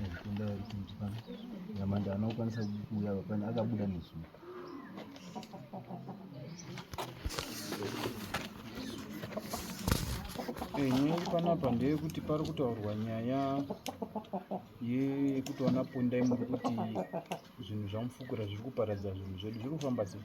Ndikunda kuti mtipana. Nyamanda anokwanisa kuuya vapani akabuda nezuva. Nyaya panapa ndeyekuti pari kutaurwa nyaya yekuti vana pondai muri kuti zvinhu zvamufukura zviri kuparadza zvinhu zvedu zviri kufamba sei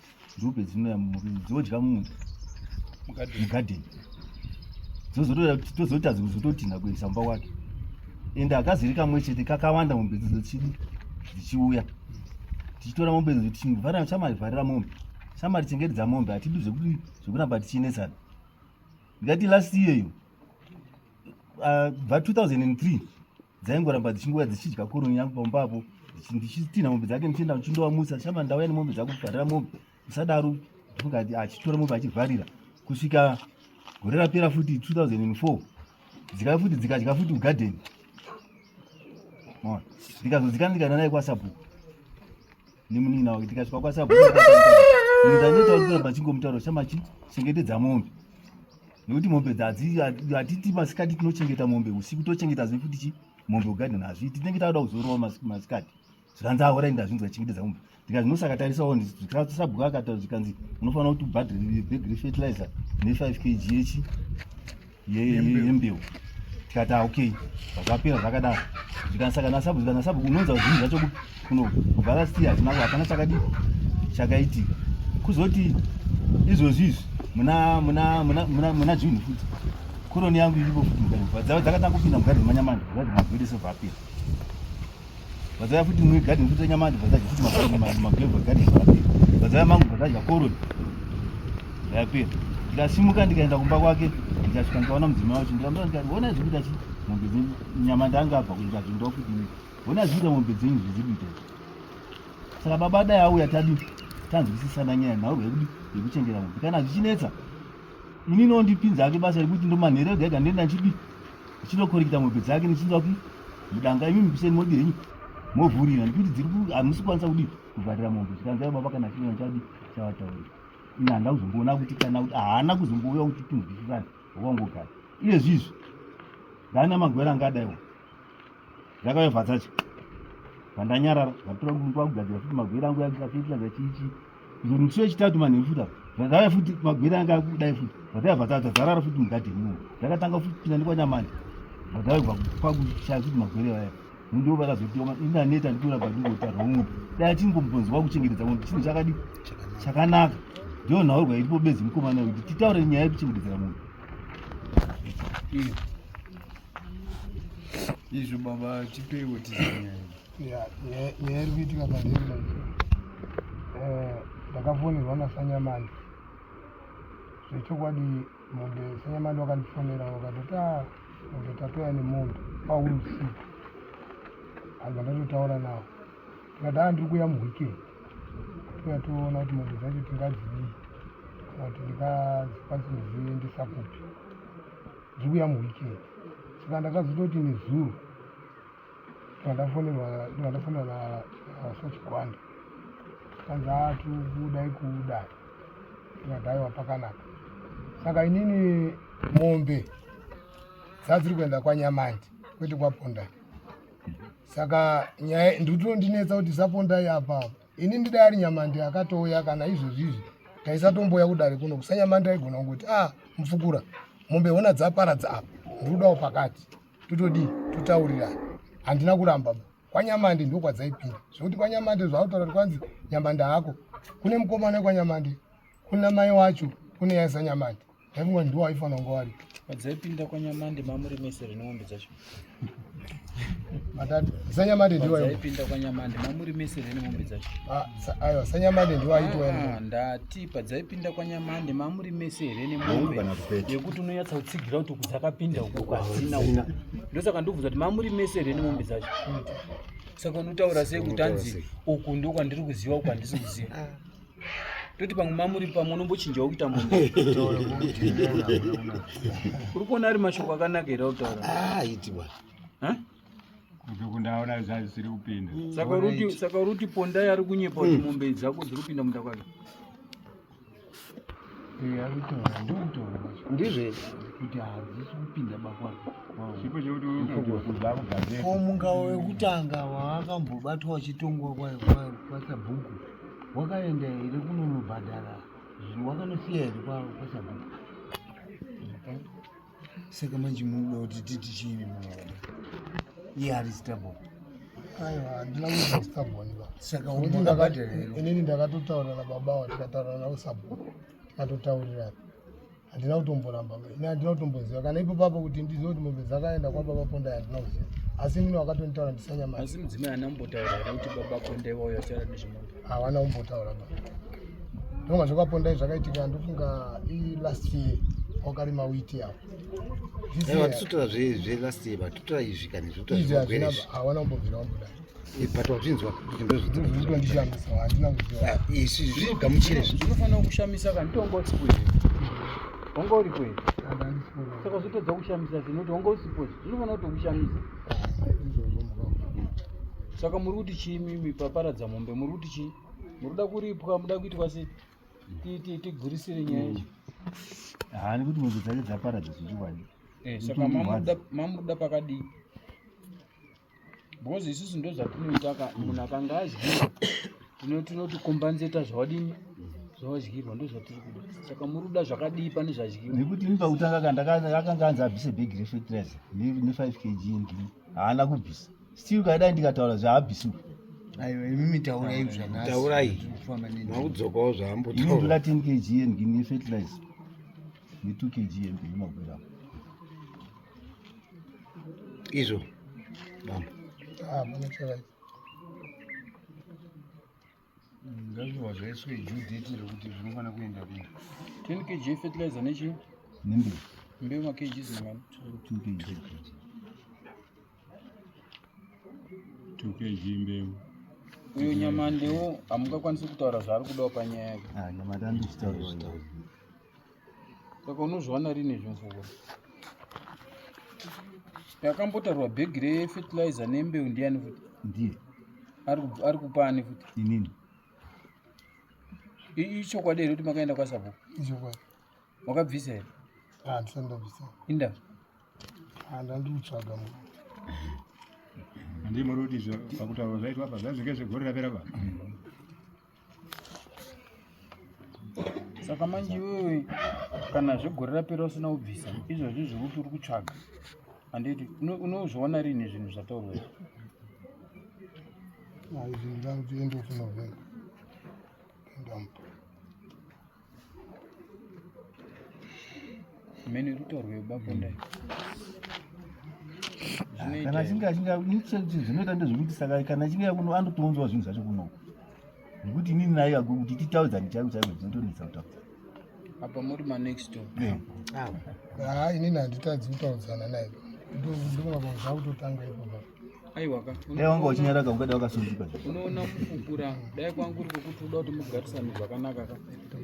Nzombe dzinouya mumurimi dzodya mumunda mugadheni dzozotadza kuzototinha kuendesa mumba wake ende akaziri kamwe chete kakawanda mombe idzo dzichidi dzichiuya tichitora mombe idzo tichivharira shamari vharira mombe shamari chengetedza mombe hatidi zvekuti zvekuramba tichinetsana ndikati last year iyo bva uh, 2003 dzaingoramba dzichingouya dzichidya koroni yangu pamba apo ndichitinha mombe dzake ndichienda ndichindova musa shama ndauya nemombe dzako kuvharira mombe musadaro ndikati achitora mombe achivharira kusvika gore rapera futi 2004 dzikauya futi dzikadya futi ugadeni ndikazodzikana ndikaenda naye kwasabhuku nemunin'ina wake tikasvika kwasabhuku ndanoita kuti kuramba chingomutaura chama chi chengetedza mombe nekuti mombe dzadzatiti masikati tinochengeta mombe usiku tochengeta zve futi chi mombe ugadheni hazvi tinenge takuda kuzorowa masikati zvikanzi ahora inda zvinzi vachengetedza mombe ndikati nosakatarisawo sabhuku akataura zvikanzi unofanira kuti ubhadhiri bhegi refertilizer ne 5 kg yechi yembeu tikati ah, okay zvapera zvakadaro zvikanisa kana sabu kana sabu unonza zvinhu zvacho kuno kubva last year tinako hapana chakadi chakaitika kuzoti izvozvi izvi muna muna muna muna muna juni futi koroni yangu iripo futi mugadini dzakatanga kupinda mugadini manyamani zvazvimagwedese vapera vazaya futi mwe garden futi nyama vazaya futi mabhanga mabhanga garden vazaya mangu vazaya koroni yapera ndikasimuka ndikaenda kumba kwake ndikasvika ndikaona mudzimai wacho ndikamura ndikati hona zviri kuita chi mombe dzenyu nyama ndanga abva kundikati ndoa kuti mi hona zviri kuita mombe dzenyu zvizi kuita izvi saka baba dai auya tadi tanzwisisana nyaya nhaurwa yekudi yekuchengera mombe kana zvichinetsa ini nondipinza ake basa rekuti ndomanhero ega ega ndoenda ndichidi Ndichinokorekita mombe dzake ndichinoda kuti mudanga imi mukuseni modi henyu movhurira ndikuti dziri hamusi kwanisa kudi kuvharira mombe zvikanzai baba kana chinoa chadi chavatauri ini handina kuzomboona kuti kana kuti haana kuzombouya kuti tinzwisisane wakangogara iye zvizvi ndana magwera angadaiwa Zvakave bvazacho. Vandanyarara, vatora kumba kugadzira futi magwira angu yakafitla zachichi. Zunutsu yechitatu manhu futa. Zvakave futi magwira anga kudai futi. Zvakave bvazacho zarara futi mugadi mu. Zvakatanga futi pinda ndikwa nyamani. Zvakave kwa kwa kushaya futi magwira vaya. Ndiwo vakazotiwa ma ina neta ndikura badiko ta romu. Dai tingombonzi kwa kuchengetedza munhu chinhu chakadi chakanaka. Ndiyo nhawo kwa iripo bezi mkomana kuti titaure nyaya yekuchengetedza munhu. Yeah. izvo baba tipeiwo tizinyaya nyaya iri kuitika pandemba eh, ndakafonerwa nasanyamani zvechokwadi mombe sanyamani wakandifonera wakatoti a ah, mombe tatoya nemombe pauri usiku anhu vandatotaura navo tikati a ndiri kuya muweekend tikuya toona kuti mombe dzacho tingadzivii kana kuti ndingadzikwanisa kuziendesa kupi Ndikuya muweekend. Saka ndakazototi nezuro ndandafonerwa ndandafonerwa na Sachigwanda. Kanzi ah tikuda ikuda. Ndikadaiwa pakanaka. Saka inini mombe dzadziri kuenda kwaNyamandi kwete kwaPondai. Saka nyaya ndikutondinetsa kuti saPondai apa apa. ini ndida ari nyamande akatouya kana izvozvizvi taisatomboya kudare kuno kusanyamande aigona kungoti a ah, mupfukura mombe hona dzaparadza apa ndikudawo pakati totodii totaurirana handina kuramba kwanyamande ndokwadzaipinda zvekuti kwanyamande zvautaura kuti kwanzi nyamande hako kune mukomana wekwanyamande kuna mai wacho kune yaisa nyamande Pamwe ndiwo aifanira kunge wari. Madzaipinda kwaNyamande mamuri mese rine mombe dzacho. Matatu. Sanyamande ndiwo aiwa. Madzaipinda kwaNyamande mamuri mese rine mombe dzacho. Ah, sa- aiwa sanyamande ndiwo aitwa Ah, yena. ndati padzaipinda kwaNyamande mamuri mese here nemombe kana kupeta. yekuti unonyatsa kutsigira kuti uku dzakapinda uku kwadzina uku. Ndosaka ndobvunza kuti mamuri mese here nemombe dzacho. Saka unotaura sei kuti hanzi uku ndokwandiri kuziva uku handisi kuziva. toti pamwe mamuri pamwe unombochinjawo kuita munhu uri kuona ari mashoko akanaka here autaura ah, kundaona zvisiri kupinda saka uri kuti pondai ari kunyepa kuti hmm. mombe dzako dziri kupinda munda kwake ndizve kuti hadzisi kupinda bakwako munga wekutanga waakambobatwa wachitongwa kwasabhuku wakaenda here kunonobhadhara zvinhu wakanosiya here kwavo kwasabhuku saka manje munoda kuti titi chiini munoona iye ari stable aiwa handina kuita stable ndiva saka umabhadhara here inini ndakatotaura nababa wa tikataura navo sabhuku tikatotaurirana handina kutomboramba ini handina kutomboziva kana ipo papo kuti ndizive kuti mombe dzakaenda kwababa pondai handina kuziva asi mini wakatonitaura ndisanyaasi mudzimai haana kumbotaura here kuti baba pondai vauya vachitaura nezvemombe hawana kumbotaura ba ndonga zvakapondai zvakaitika ndofunga ilast year wakarima witi yavo vatisotora zvelast year vatotora izvi kani zvotoawana kumbobvira wambodai Eh, but wazvinzwa ah, isu zvigamuchire zvinofanira kushamisa kanitongosipo wanga uripo here saka zvitodza kushamisa zvinoti wanga usipo zvinofanira kutokushamisa saka muri kuti chii mimi paparadza mombe muri kuti chii muri kuda kuripwa muda kuitwa se tigurisire nyaya ichi haani kuti mombe dzake dzaparadza zvichiwani eh, saka mamuda pakadii because isusu ndo zvatinoita ka munhu akanga adyirwa tino tinoti kombanzeta zvawadini zvawadyirwa ndo zvatiri kuda saka muri kuda zvakadii pane zvadyirwa nekuti ini pakutanga ka ndaka- akanga anzi abvise bhegi refetiraiza ne5 kg ndini haana kubvisa still kaidai ndikataura zvaabvisiwa aiwa imi mitaurai zvanhasi Taurai. Tiri kufamba nendimi. makudzokawo ini zvaambotaura ndoda 10 kg yendini yefetiraiza ne2 kg yendini makwira izvo bamba ah, ndazviwa zvaiswe judheti rekuti zvinofanira kuenda kune 10 kg fertilizer nechii nembewu mbewu makg zimani 2 kg tukeji mbeu uyu nyamande wo hamungakwanisi kutaura zvaari kudawo panyaya ah, saka unozviwana rini izvi mvura yakambotarwa bhegi refetilizer nembeu ndiyani futi ndiye ari kupa ani futi inini ichokwadi here kuti makaenda kwasabhuku ichokwadi wakabvisa here handisandabvisa inda handandikutsvaga mu ndimuri kuti zvakutaura zvaitwa apa zvazvinge zvegore rapera pa saka manje iwewe kana zvegore rapera usina kubvisa izvozvi zvekuti uri kutsvaga handiti unozviona rini zvinhu zvataurwa izvi aizvinhu zvangu zviendofuna zvaii mene ruto rwebabonda hmm. kana achinge achinge zvinoita ndezvekuti saka kana achinge kuno anotounzwa zvinhu zvacho kuno nekuti inini naye agwe kuti titaudzani chaiko chaiko zvinotonetsa kutaudza apa muri manext door ha inini handitadzi kutaudzana naye ndovakuzva kutotanga ipo aiwaka dai wanga uchinyaraka ungada wakasunzika unoona kukukura dai kwanga uri kwekuti uda kuti mugarisane zvakanaka ka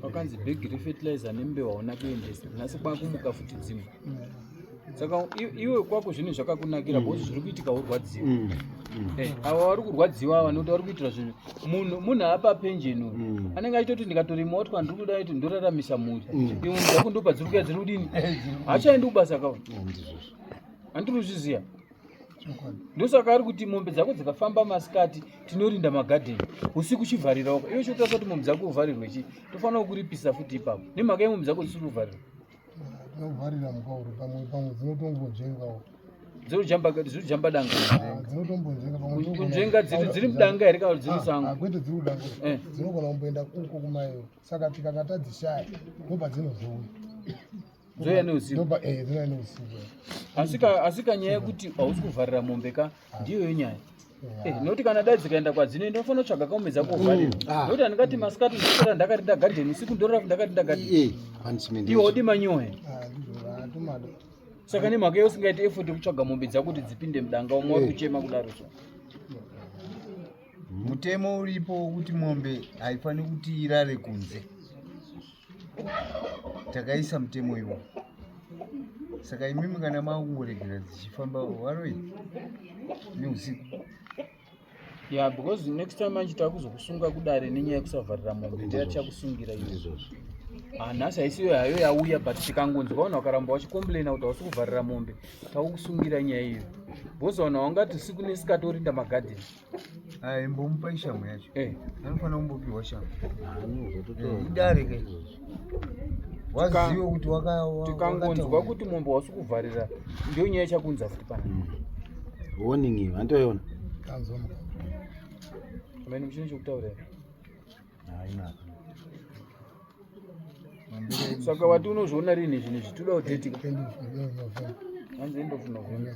pakanzi bhegi refetilizer nembewa hauna kuendesa nhasi kwakumuka futi dzimu saka iwe kwako zvinhu zvakakunakira bhozi zviri kuitika urwadziwa mm, mm. eh, ava vari kurwadziwa ava nokuti vari kuitira zvinhu munhu munhu apa penjeni uyu mm. anenge achitoti ndikatorima woti kwandiri kuda kuti ndoraramisa mhuri iwe mudzakundopa dziri kuya dziri kudini hachaendi kubasa kawa handiri kuzviziva ndosaka ari kuti mombe dzako dzikafamba masikati tinorinda magadheni usiku chivharirawo iwe chiotarisa kuti mombe dzako uvharirwe chii tofanira kukuripisa futi ipapo nemhaka yemombe dzako dzisiri kuvharirwa dzovharira mukauri pamwe pamwe dzinotombonjengawo dzirikujamba danga kunzvenga dziri mudanga here kana dziri musango kwete dziri kudanga eh. dzinogona kumboenda kuko kumayo saka tikakatadzishaya ndobva dzinozouya dzouya neusiku asika nyaya yekuti hausi kuvharira mombe ka ndiyoyo nyaya Eh, noti kana dai dzikaenda kwadzino ndinofanira kutsvaga kaume dzako vharira mm. ah. noti handikati masikati ndisora ndakarinda gadheni usiku ndorora ndakarinda gadheni iwe wodi manyoe ah, saka nemhaka iyo usingaiti effort yekutsvaga mombe dzako kuti dzipinde mudanga umwe wari eh. kuchema kudaro so mutemo uripo wekuti mombe haifaniri kuti irare kunze takaisa mutemo iwo saka imimi kana makungoregera dzichifamba waroi neusiku ya because next time manje takuzokusunga kudare nenyaya yekusavharira mombe ndiya tichakusungira izvozvo ah, nhasi haisiyo hayo yauya but tikangonzi vaona wakaramba wachicomplaina kuti hausi kuvharira mombe takukusungira nyaya iyo because vaona wangati usiku nesikatorinda magadheni imbomupa ishamhu yacho eh. anofanira kumbopiwa shamhu eh, idare ke wazive kuti tikangonzwa kuti mombe wasi kuvharira ndiyo nyaya ichakunza futi pana hmm. warning iyo antoiona amene muchine chokutaura saka wati unozviona rini zvinhu zvitoda kudetika hanzi endofunavhona